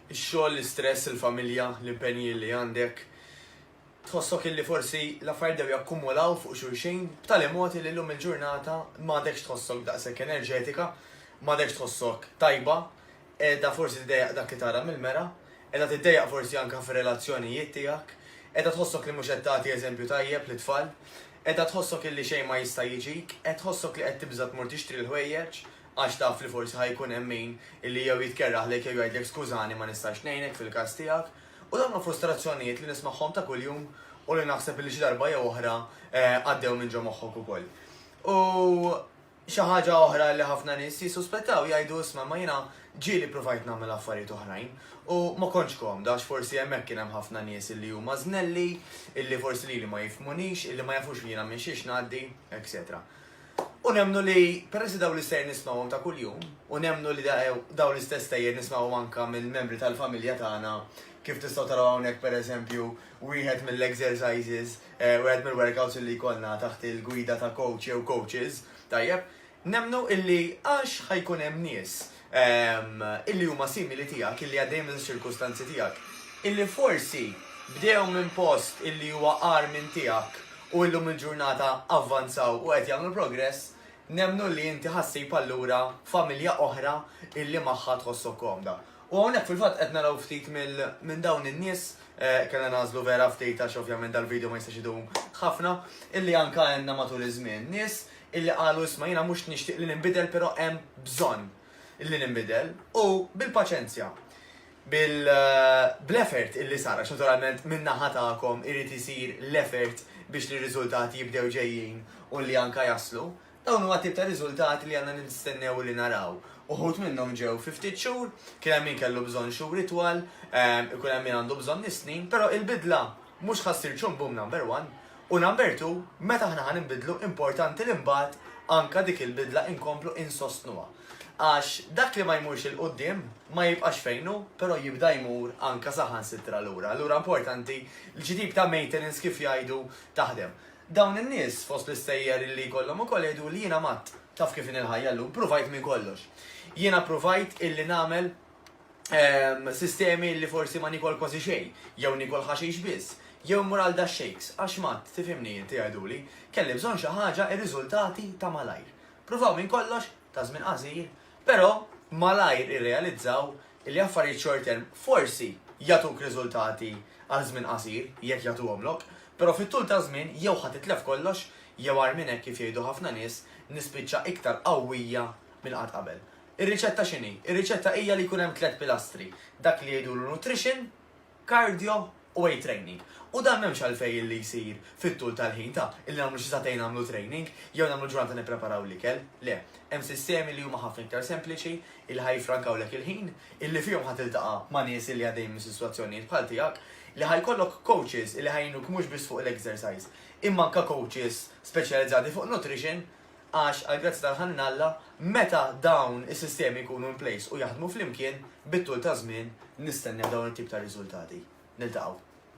Ix-xogħol, l-istress, il-familja, l-impenji li għandek, tħossok illi forsi l-affarijiet dew jakkumulaw fuq xulxin b'tali mod li llum il-ġurnata m'għadekx tħossok daqshekk enerġetika, m'għadekx tħossok tajba, qiegħda forsi tiddejjaq dak li tara mill-mera, qiegħda tiddejjaq forsi anke fir-relazzjonijiet tiegħek, qiegħda tħossok li mhux qed tagħti eżempju tajjeb lit-tfal, qiegħda tħossok illi xejn ma jista' jiġik, qed tħossok li qed tibża' tmur tixtri l-ħwejjeġ, għax taf li forsi ħa jkun hemm min li jew jitkerraħlek jew jgħidlek skużani ma nistax ngħinek fil-każ tiegħek, u dawn huma frustrazzjonijiet li nismagħhom ta' kuljum u li naħseb li xi darba jew oħra għaddew minn ġo moħħok ukoll. U xi ħaġa oħra li ħafna nies jissuspettaw jgħidu isma' imma jiena ġieli provajt nagħmel affarijiet oħrajn u ma kontx komda għax forsi hemmhekk kien hemm ħafna nies li huma żnelli, illi forsi lili ma jifhmunix, illi ma jafux li jiena minn xiex ngħaddi, etc. U nemmnu li, peress li dawn l-istejjer nismgħuhom ta' kuljum, u nemmnu li dawn l-istess stejjer nismgħuhom anke minn membri tal-familja tagħna, kif tistgħu taraw hawnhekk pereżempju wieħed mill-exercises, wieħed mill-workouts li jkollna taħt il-gwida ta' coach jew coaches, tajjeb, nemmnu illi għax ħa jkun hemm nies illi huma simili tiegħek, illi għaddejjin minn ċirkustanzi tiegħek, illi forsi bdew minn post illi huwa għar minn tiegħek u illum il-ġurnata avvanzaw u qed jagħmlu progress, nemnu li inti ħassib allura familja oħra illi magħha tħossok komda. U hawnhekk fil-fatt qed naraw ftit minn dawn in-nies eh, kellna nażlu vera ftit għax ovvjament dal-video ma jistax idum ħafna, illi anka għandna matul iż-żmien nies illi qalu isma' jiena mhux nixtieq li ninbidel però hemm bżonn illi ninbidel u bil-paċenzja bil bl-effort illi sar għax naturalment min-naħa tagħkom irid isir l-effort biex li r-riżultati jibdew ġejjin u li anke jaslu. Dawn huma t-tip ta' riżultati li għandna nistennew illi naraw. Uħud minnhom ġew fi ftit xhur, kien hemm min kellu bżonn xhur itwal, ikun hemm min għandu bżonn is-snin, però il-bidla Mhux ħa ssir Chum Bum Number One u Number Two meta aħna ħa ninbidlu importanti li mbagħad anke dik il-bidla inkomplu insostnuha. Għax dak li ma jmurx 'il quddiem ma jibqax fejn hu però jibda jmur anke saħansitra lura. Allura importanti li xi tip ta' maintenance kif jgħidu taħdem. Dawn in-nies fost l-istejjer illi jkollhom ukoll jgħiduli jiena matt. Taf kif inhi l-ħajja llum, pruvajt minn kollox. Jiena pruvajt illi nagħmel. ehm, sistemi li forsi ma nikol kważi xejn, jew nikol ħaxix biss, jew mur għal da shakes, għax mat, tifimni inti għaduli, kelli bżonn xi ħaġa ir-riżultati ta' malajr. Pruvaw minn kollox, ta' żmien qasir, però malajr irrealizzaw li affarijiet short term forsi jatuk riżultati għal żmien qasir jekk jagħtuhomlok, però fit-tul ta' żmien jew ħadd itlef kollox jew għar minn hekk kif jgħidu ħafna nies nispiċċa iktar qawwija minn qatt qabel. Ir-riċetta x'inhi? Ir-riċetta hija li jkun hemm tliet pilastri, dak li jgħidulu nutrition, cardio u weight training. U dan m'hemmx għalfejn illi jsir fit-tul tal-ħin ta' illi nagħmlu xi sagħtejn nagħmlu training jew nagħmlu ġurnata nippreparaw l-ikel. Le, hemm sistemi li huma ħafna iktar sempliċi illi ħa jiffrankawlek il-ħin, illi fihom ħa tiltaqa' ma' nies illi għaddejjin minn sitwazzjonijiet bħal tiegħek, li ħa jkollok coaches illi ħa jgħinuk mhux biss fuq l-exercise, imma anke coaches speċjalizzati fuq nutrition għax għall-grazzja tal-ħanin Alla, meta dawn is-sistemi jkunu in place u jaħdmu flimkien, bit-tul taż-żmien nistennew dawn it-tip ta' riżultati. Niltaqgħu.